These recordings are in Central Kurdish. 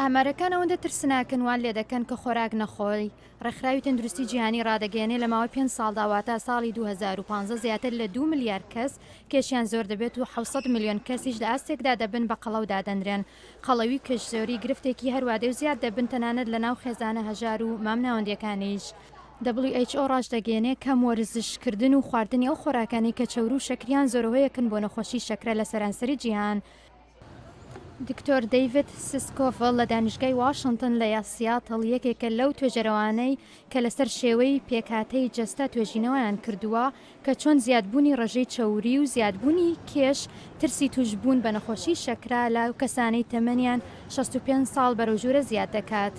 ئامارەکان ئەوەندە ترسناکن وان لێ دەکەن کە خۆراک نەخۆی ڕێکخراوی تەندروستی جیهانی ڕادەگەێنێ لە ماوەی پێنج ساڵدا واتە ساڵی 2015 زیاتر لە دو ملیار کەس کێشیان زۆر دەبێت و 600 ملیۆن کەسیش لە ئاستێکدا دەبن بە قەڵەو دادەنرێن قەڵەوی و کەشزۆری گرفتێکی هەروادێ و زیاد دەبن تەنانەت لە ناو خێزانە هەژار و مامناوەندیەکانیش. WHO ڕاشدەگەێنێ کەم وەرزش کردن و خواردنی ئەو خۆراکانەی کە چەورو و شەکریان زۆرەهۆیەکن بۆ نەخۆشی شەکرە لە سەرانسەری جیهان، دکتۆر دەیڤد سسکۆڤڵ لە دانیشگای واشنتن لە سیاتڵ یەکێکە لەو توێژەرەوانەی کە لەسەر شێوەی پێکهاتەی جەستە توێژینەوەیان کردووە کە چۆن زیادبوونی ڕێژەی چەوری و زیادبوونی کێش ترسی تووشبوون بە نەخۆشی شەکرە لە کەسانی تەمەنیان 65 ساڵ بەرەو ژوورە زیاد دەکات.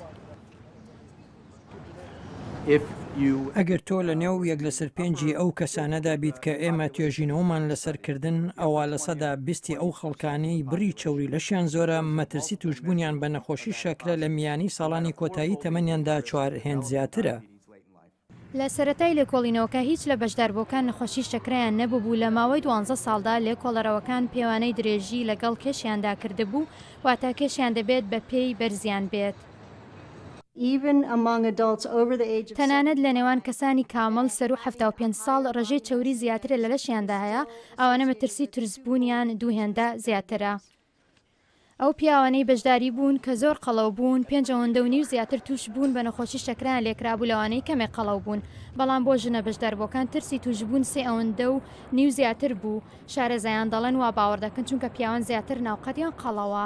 ئەگەر تۆ لە نێو یەک لەسەر پێنجی ئەو کەسانەدا بیت کە ئێمە توێژینەوەمان لەسەر کردن، ئەوا لە سەدا بیستی ئەو خەڵکانەی بڕی چەوری لەشیان زۆرە، مەترسی تووشبوونیان بە نەخۆشی شەکرە لە میانی ساڵانی کۆتایی تەمەنیاندا چوار هێند زیاترە. لە سەرەتای لێکۆڵینەوەکە هیچ لە بەشداربووەکان نەخۆشی شەکرەیان نەبووبوو، لە ماوەی دوانزە ساڵدا لێکۆڵەرەوەکان پێوانەی درێژی لەگەڵ کێشیاندا کردبوو، واتە کێشیان دەبێت بەپێی بەرزیان بێت. تەنانەت لە نێوان کەسانی کامڵ سەروو حەفتا و پێنج ساڵ ڕێژەی چەوری زیاترە لە لەشیاندا هەیە ئەوانە مەترسی ترس بوونیان دوو هێندە زیاترە. ئەو پیاوانەی بەشداری بوون کە زۆر قەڵەو بوون پێنج ئەوەندە و نیو زیاتر تووش بوون بە نەخۆشی شەکرەیان لێکرابوو لەوانەی کەمێک قەڵەو بوون بەڵام بۆ ژنە بەشداربووەکان ترسی تووش بوون سێ ئەوەندە و نیو زیاتر بوو شارەزایان دەڵێن وا باوەڕ دەکەن چونکە پیاوان زیاتر ناوقەدیان قەڵەوە